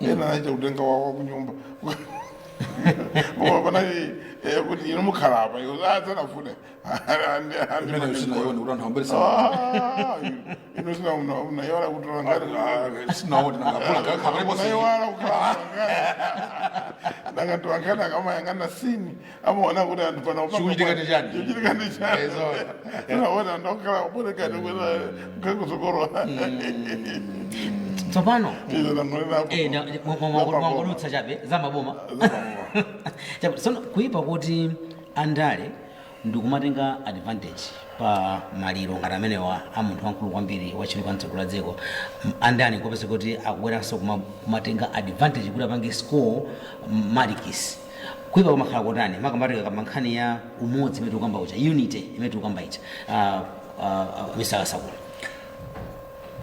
ena aita kutenga wawo wakunyumba koma panali eh, kuti ino mukhala apa iwo adzanafune Mmene usinaone kuti anthu ambiri sa- ino sina unayora kutola ngati Ah, sinaone nangapula kakhala paliponse unayora kukhala ngati ndakatoangana akamayangana sini amaona kuti anthu pano Chikuchitika ndi chani? chikuchitika ndi chani Eh, zoona. unaona anthu okhala kuoneka ndi kuena nkhakusokolola tsopano izo nangonenapo eh, na- mwa- mwa- mwa- mwangolutsa chabe za maboma Chabe, sono kuipa kuti andale nkumatenga advantage pa maliro ngati amenewa a munthu wamkulu kwambiri wachilika mtsogolo la dziko M- andale kopese kuti akubweranso kuma- kumatenga advantage kuti apange score marks kuipa kumakhala kotani makamaka tikakamba nkhani ya umodzi umene tikukamba uja unity imene tikukamba ija Ah, ah, ah, mr kasakula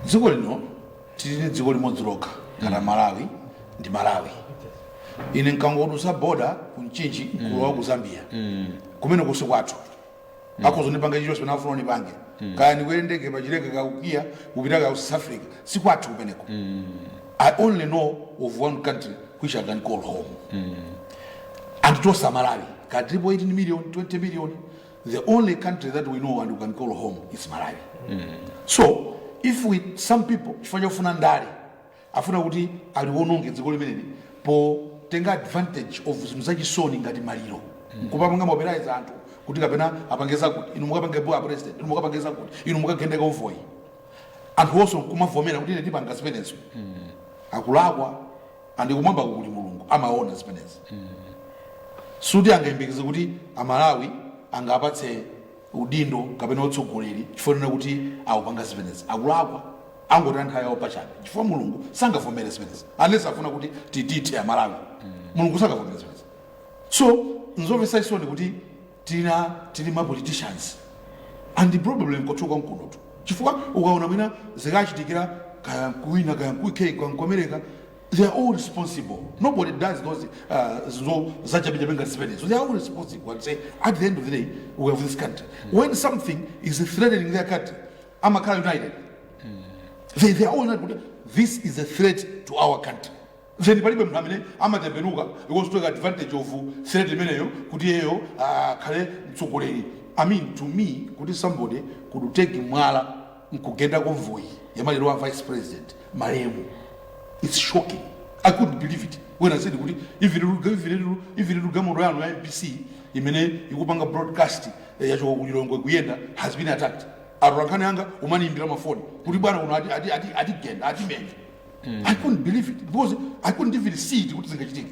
dziko lino tili ndi dziko limodzi lokha ngati malawi ndi malawi ine nkangodusa boda ku mchinji kulowa ku zambia kumeneko si kwathu akhoza kundipanga chilichonse pamene afuna andipange kaya ndikwere ndege pachileka kaya ku kia kupita ku south africa sikwathu kumeneko i only know of one country which i can call home and that is malawi ka 3.8 million 20 million the only country that we know and we can call home is malawi so if we some people chifukwa chofuna ndale Afuna kuti aliwononge dziko limeneli potenga advantage of zinthu zachisoni ngati maliro nkumapanga mobilize anthu kuti kapena apange zakuti, inu mukapange boo a president, inu mukapange zakuti, inu mukagende convoy. Anthuwonso nkumavomera kuti ine tipanga zimenezo. Akulakwa and kumwambako kuli Mulungu amaona zimenezi. Soti angayembekeze kuti a Malawi angawapatse. udindo kapena utsogoleri chifukwa chonena kuti akupanga zimenezi akulakwa akungotaya nthawi yawo pachabe chifukwa mulungu sangavomere zimenezi unless afuna kuti titithe amalawi mulungu sangavomere zimenezi so nzomvetsa chisoni kuti tili ma politicians and probably nkochuluka nkunotu chifukwa ukaona mwina zikachitikira kaya nkuwina kaya nku uk kaya nku america they are all responsible nobody does those uh, zinthu zachabechabe ngati zimenezo they are all responsible and say at the end of the day we have this country when something is threatening their country amakhala united they, they are all united kuti this is a threat to our country then palibe munthu amene amatembenuka be it to take advantage of threat imeneyo kuti iyeyo akhale mtsogoleri i mean to me kuti somebody could take mwala nkugenda convoy ya maliro a vice president malemu its shocking i couldn't believe it when i said kuti even galimoto yanu ya mbc imene ikupanga broadcast eh, yachoka ku lilongwe kuyenda has been attacked atolankhani anga kumaniyimbira mafoni kuti bwana kuno atigenda ati, ati, ati atigenda, atimenya i couldn't believe it because i couldn't even see it kuti zingachitike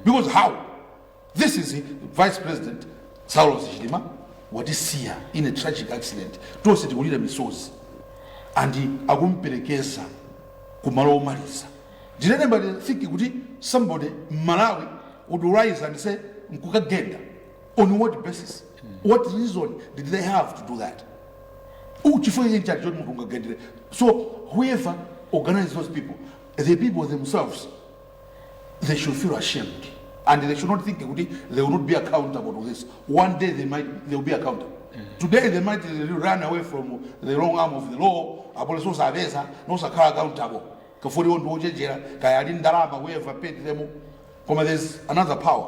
because how This is vice president Saulos Chilima watisiya in a tragic accident tonse tikulira misozi and akumperekeza kumalo omaliza did anybody think kuti somebody mmalawi would rise and say nkukagenda on what basis what reason did they have to do that chifukwa cheni chake choti munthu ungagendere so whoever organize those people the people themselves they should feel ashamed and they should not think kuti they will not be accountable to this one day they might they will be accountable today they might run away from the long arm of the law apolisi osapeza nosakhala accountable kafoti iwo ndiwochenjera kaya ali ndalama we have paid them koma there's another power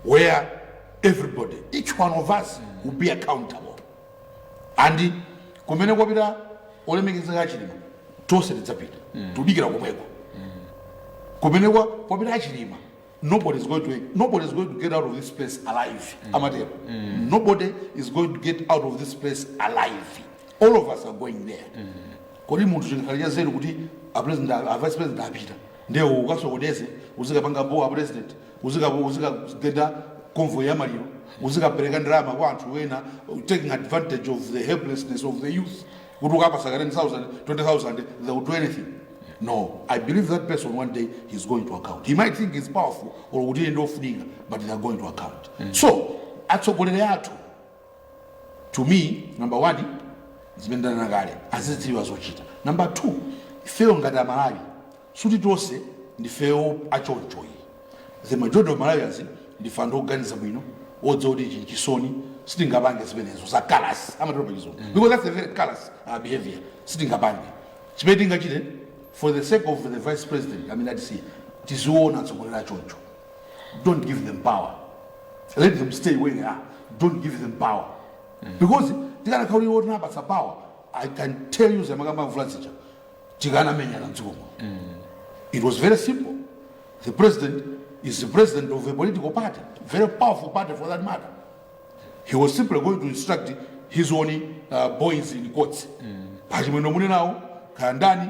where everybody each one of us will be accountable and kumene kwapita olemekezeka achilima tonse tidzapita tudikira komweko kumene kwa kwapita achilima nobody is going to nobody is going to get out of this place alive amatero nobody is going to get out of this place alive all of us are going there kodi munthu chingakhale cha nzeru kuti a president a vice president apita nde iwe ukasokoneze uzikapanga boo a president uzika- uzikagenda convoy ya maliro uzikapereka ndalama kwa anthu ena taking advantage of the helplessness of the youth kuti ukapasa ka 10000 20000 they will do anything no i believe that person one day he's going to account he might think he's powerful or kuti iye ndiofunika but they're going to account so atsogoleri athu to me number one zimene ndanena kale azidziwa zochita number two ifeyo ngati amalawi suti tonse ndifeyo achonchoyi the majority of malawians ndife anthu oganiza bwino odziwa kuti ichi nchisoni sitingapange zimenezo za callous amatero pachizungu because that's a very callous uh, behavior sitingapange chimene tingachite for the sake of the vice president amene atisiya tiziona atsogoleri achoncho don't give them power let them stay where they are don't give them power because tikanakhala kuti wotinapatsa power i can tell you zamakamba mvula zija tikanamenyana mdziko muno it was very simple the president is the president of a political party very powerful party for that matter he was simply going to instruct his own uh, boys in courts pachimwendo muli nawo kaya ndani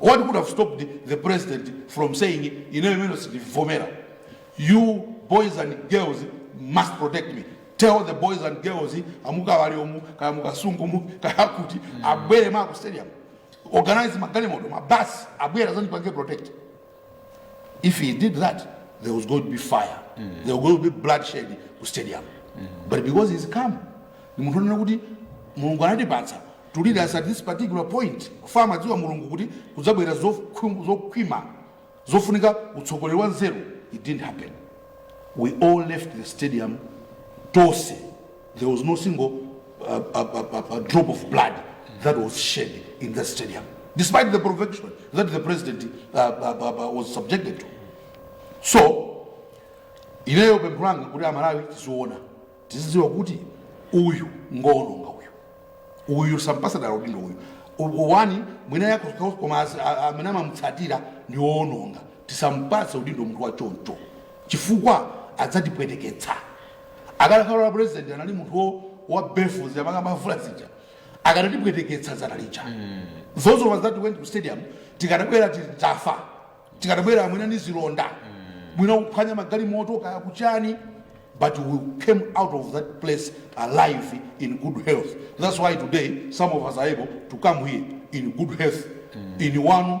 what could have stopped the president from saying ineyo imene sindivomera you boys and girls must protect me tell the boys and girls amukawaliomu kaya mukasungumu kaya kuti abwere maku stadium organize magalimoto mabasi abwera zandipange protect if he did that there was going to be fire there was going to be bloodshed ku stadium but because he's calm ni munthu onena kuti mulungu anatipatsa to lead us at this particular point chifukwa amadziwa mulungu kuti kudzabwera zokhwi- zokhwima zofunika utsogoleri wa nzeru it didn't happen we all left the stadium tonse There was no single uh, uh, uh, uh, drop of blood that was shed in that stadium, despite the provocation that the president uh, uh, uh, uh, was subjected to. So, ineyo pempho langa kuti amalawi tiziona tizidziwa kuti uyu ngoononga uyu uyu osampasa dala udindo uyu U- wani mwina yako koma as- a- a- amene amamutsatira ndi woononga tisampase udindo munthu wa choncho chifukwa adzatipweteketsa Akanakhala president anali munthu wo- wa beef zamanga mavula zija. Akanatipweteketsa dzana lija. Those of us that went to stadium tikadabwera titafa. Tikadabwera mwina ni zilonda. Mwina kuphwanya magalimoto kaya kuchani. But we came out of that place alive in good health. That's why today some of us are able to come here in good health. In one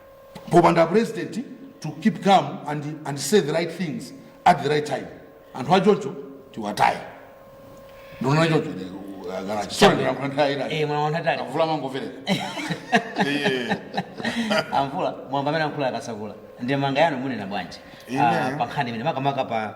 popanda president to keep calm and, and say the right things at the right time anthu achoncho tiwataye ndinena choncho Eh, mwana wanthu atali a Mvula mangomverera Iye. a Mvula mwamva mmene ankhula a Kasakula ndemanga yanu munena bwanji Ine. Ah, pa nkhani imene makamaka pa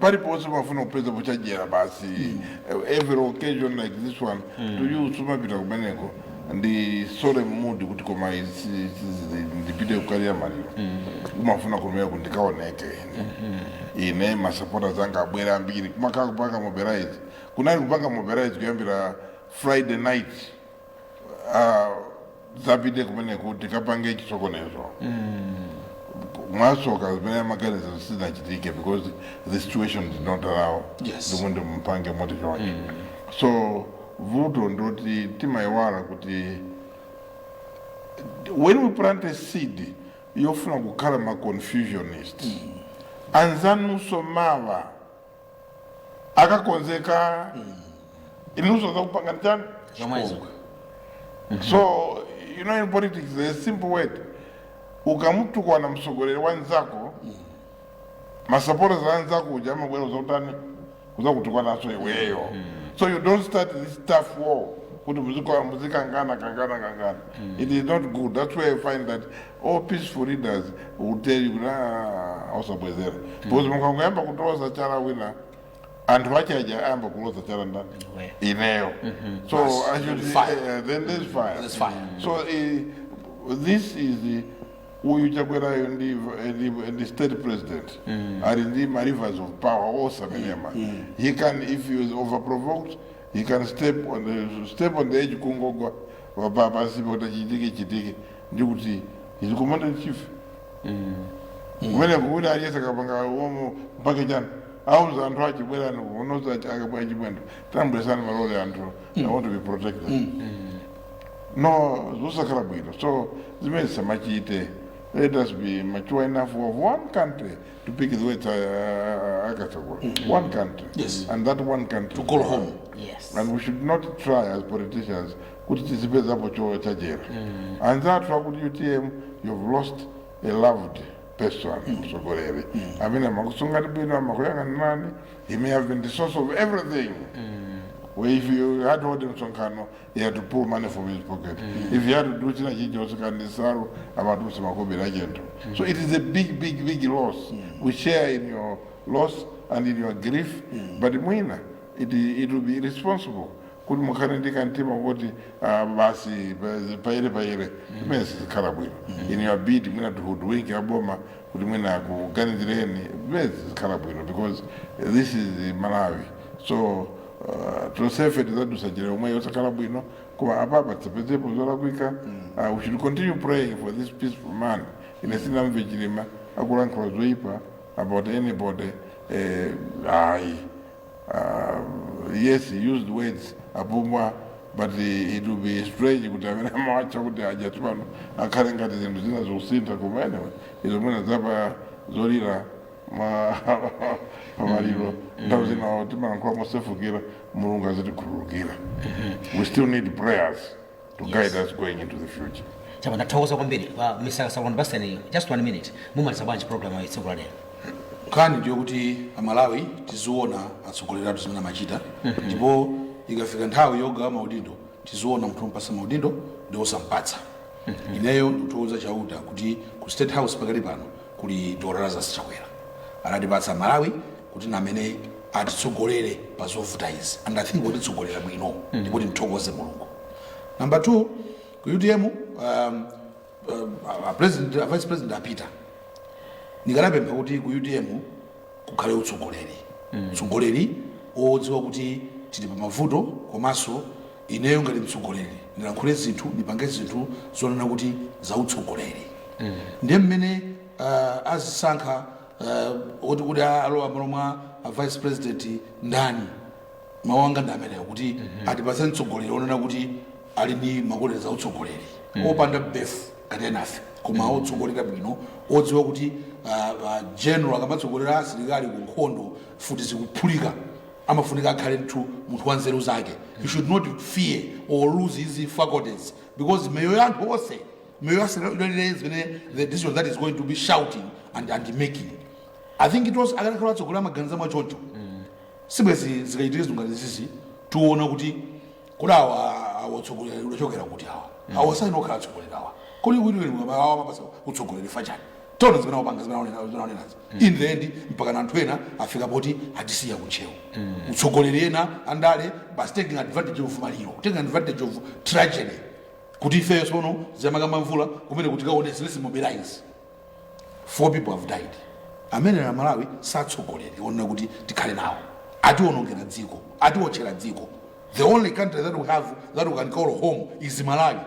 paliponse umafuna kupeza pochajera basi every occasion like this one to you sumapita kumeneko ndi sorry mood kuti koma isi- isi- ndipite kukalira maliro umafuna kumeneko kuti ndikaoneke ine ine masapota zanga abwere ambiri kumakhala kupanga mobilize kunali kupanga mobilize kuyambira friday night azapite kumeneko tikapange chisokonezo mwasoka zimene amaganiza sizinachitike because the situation did not allow Yes. ndimwe ndimpange moti choncho so vuto ndoti timayiwala kuti when we plant a seed yofuna kukhala ma confusionist anzanunso mawa akakonzeka inunso azakupangani chani zomwezo so you know in politics there's a simple word ukamutukwana mtsogoleri wa nzako masapota za nzako uja amabwera kuzakutani kuzakutukwananso iweyo so you don't start this turf war kuti muzika- muzikangana kangana kangana it is not good that's why you find that all peaceful leaders will tell you kuti "Ah, osabwezera because mukangoyamba kuloza chala wina anthu ache aja ayamba kuloza chala ndani Iwe. ineyo so Basi, I should, there's fire. eh, then there's fire There's fire. so eh, this is eh, uyu Chakwerayu ndi eh, ndi- ndi state president ali ndi ma levers of power onse amenewa he can if he is overprovoked he can step on the, step on the edge kungogwa pa- pa- pansi poti chitike chitike ndi kuti he's commander in chief kumeneko kuti aliyense akapanga uomo mpake chani auza anthu ache bwerani kuno a Chimwendo tabweretsani malole anthu i want to be protected no zosakhala bwino so zimenezo asamachite let us be mature enough of one country to pick the words a Kasakula one country Yes. and that one country To call home. Yes. and we should not try as politicians kuti tizipezapo cho- chajera anzathu akuti utm you've lost a loved person mtsogoleri amene amakusungani bwino amakuyang'anirani he may have been the source of everything Well, if you had all them sonkano, he had to pull money from his pocket. If he had to do china chicho sikanisaru amatuse makobera agent. So it is a big, big, big loss. We share in your loss and in your grief, but mwina it, it will be irresponsible kuti mukhale ndi kamtima koti ah, basi pa- payere payere imene sizikhala bwino in your bid mwina to hoodwink a boma kuti mwina akuganizireni imene sizikhala bwino because this is malawi so ah, tonsefe tizadusa njira yomweyo osakhala bwino koma apapa tisapezepo zolakwika Ah, we should continue praying for this peaceful man ine sinamve chilima akulankhula zoyipa about anybody eh, ayi Uh, yes, he used words apumbwa but uh, it will be strange kuti amene amawatcha kuti aja tsopano akhale ngati zinthu zina zikusintha koma anyway izo mwina zapa zolira ma pamaliro nthawi zina timalankhula mosefukira mulungu azitikhululukira we still need prayers to Yes. guide us going into the future. chama ndathokoza kwambiri kwa mr salon baseniyo just one minute mumaliza bwanji program ya tsiku la lero nkhani ndiyo kuti amalawi tiziona atsogoleri athu zimene amachita ndipo ikafika nthawi yogawa maudindo tiziona munthu ompatsa maudindo ndi osampatsa ineyo ndikuthokoza chauta kuti ku state house pakali pano kuli dr lazarus chakwera anatipatsa amalawi kuti namene atitsogolere pa zovuta izi and i think akutitsogolera bwino ndipo timthokoze mulungu number two ku utm um, um, a president a vice president apita ndikanapempha kuti ku utm kukhale utsogoleri utsogoleri wodziwa kuti tili pa mavuto komanso ineyo ngati mtsogoleri ndilankhule zinthu ndipange zinthu zonena kuti za utsogoleri ndiye mmene uh, azisankha uh, oti kuti alowa malo mwa a vice president ndani mawu anga ndi amenewo kuti atipatse mtsogoleri onena kuti ali ndi ma qualities a utsogoleri opanda befu ngati enafe koma otsogolera bwino odziwa kuti ah, ah, general akamatsogolera asilikali ku nkhondo mfuti zikuphulika amafunika akhale mthu munthu wa nzeru zake he should not fear or lose his faculties because miyoyo ya anthu onse miyoyo yathu idalire zimene the decision that he's going to be shouting and, and making i think it was akanakhala atsogoleri amaganiza mwachoncho sibwezi zikachitike zinthu ngati izizi tiona kuti kuti awa awa utsogoleri udachokera kuti awa awa sayenera kukhala atsogoleri awa kodi wiliwiliwa awa amapatsa utsogoleri chifukwa chani taona zimene awapanga zimene aonena- zimene aonenazi in the end mpaka na anthu ena afika poti atisiya ku ntcheu atsogoleri ena andale basi taking advantage of maliro taking advantage of tragedy kuti ifeyo sono zija amakamba a mvula kumene kuti kaone let's mobilize four people have died amene na malawi si atsogoleri onena kuti tikhale nawo atiwonongera dziko atiwotchera dziko the only country that we have that we can call home is malawi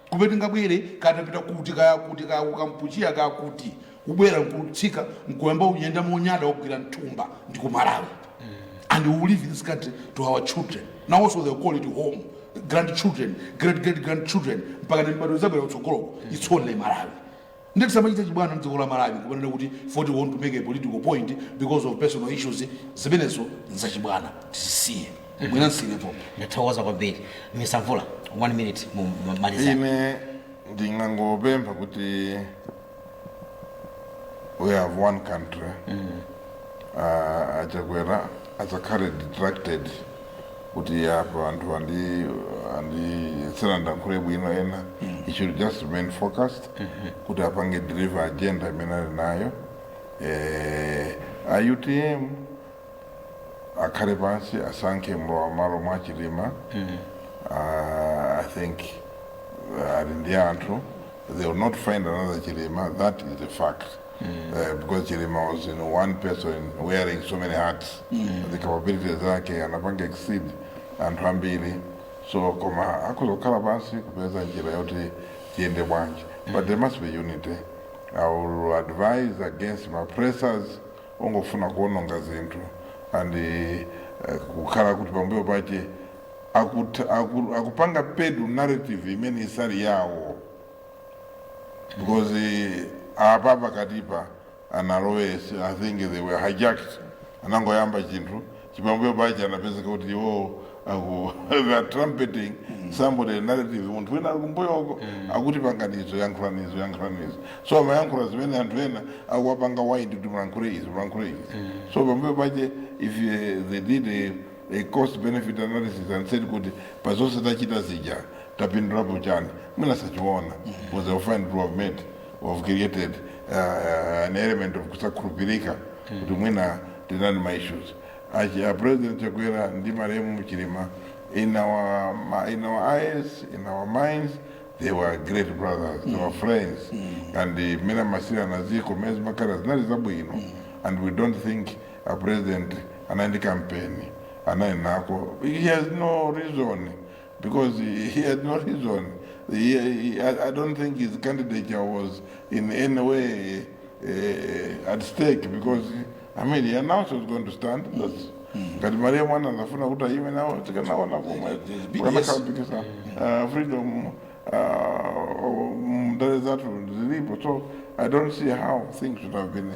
kumene tingabwere kaya tapita kuti kaya kuti kaya ku kampuchea kaya kuti kubwera nkutsika nkuyamba kuyenda monyada wogwira mthumba ndi ku malawi and we will leave this country to our children now also they call it home grandchildren great great grandchildren mpaka mibadwo izabwera kutsogoloko it's only malawi nde tisamachita chibwana mdziko la malawi kumanena kuti we want to make a political point because of personal issues zimenezo nzachibwana tizisiye mwina nsiyepo ndathokoza kwambiri mr mvula one minute mumalize ine ndingangopempha kuti we have one country Ah, achakwera asakhale distracted kuti apa anthu andi andi sanandilankhule bwino ena he should just remain focused kuti apange deliver agenda imene ali nayo eh, a utm akhale pansi asankhe mlowamalo wa chilima uh, i think uh, ali ndi anthu they will not find another chilima that is a fact Uh, because chilima was one person wearing so many hats the capabilities zake anapanga exceed anthu ambiri so koma akhoza kukhala pansi kupeza njira yoti tiyende bwanji but there must be unity i will advise against ma pressers ongofuna kuononga zinthu and eh, kukhala kuti pambuyo pache akut- aku- akupanga peddle narrative imene isali yawo because eh, apa pakatipa analowe i think they were hijacked anangoyamba chinthu chipambuyo pache anapezeka kuti iwo aku they are trumpeting somebody narrative munthu wina ali kumbuyoko akuti pangani izo yankhulani izo yankhulani izo so amayankhula zimene anthu ena akuwapanga wind kuti mulankhule izi mulankhule izi so pambuyo pache if eh, they did a, a cost benefit analysis and said kuti pa zonse tachita zija tapindulapo chani mwina sachiona because they will find they have made or created uh, uh, an element of kusakhulupirika kuti mwina tinali ndi ma issues a president chakwera ndi malemu chilima in our, ma- in our eyes in our minds they were great brothers they were friends and uh, mmene amayendetsera na ziko mmene zimakhalira zinali zabwino and we don't think a president anali ndi kampeni anali nako he has no reason because he, he had no reason. He, he, I, I don't think his candidature was in any way uh, at stake because, I mean, he announced he was going to stand. That's, ngati maliya muwana amafuna kuti ayime nawo tikanaona komwe There's big yes. kukanakapikisa freedom uh, mndale zathu zilipo so i don't see how things should have been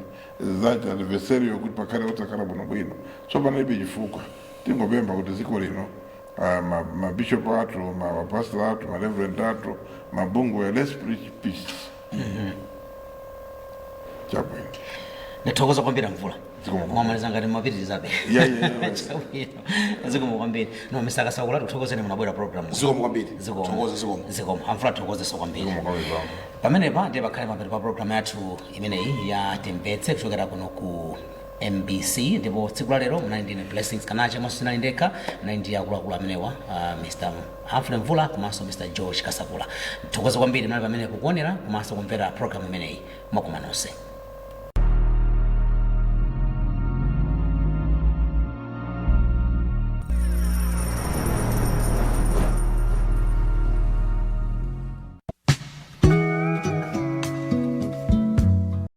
that adversarial kuti pakhale kusakhala bwinobwino so panalibe chifukwa tingopempha kuti dziko lino ah, ma, ma bishop athu ma, ma pastor athu ma reverend athu mabungwe let's preach peace chabwino ndithokoze kwambiri amvula Zikomo. mwamaliza ngati mumapitirizabe Yeah, yeah, yeah. Chabwino. zikomo kwambiri no mr kasakula tikuthokozeni munabwera program zikomo kwambiri Zikomo. Thokoza, zikomo zikomo amvula tikuthokozenso kwambiri zikomo kwambiri bambo pamenepa ndiye pakhale mapeto pa programu yathu imeneyi ya timvetse kuchokera kuno ku mbc ndipo tsiku la lero munali ndi ine blessings kanache komanso sinali ndekha munali ndi akuluakulu amenewa uh, mr humphrey mvula komanso mr george kasakula tithokoze kwambiri munali pamenepo kuonera komanso kumvera programu imeneyi mwakoma nonse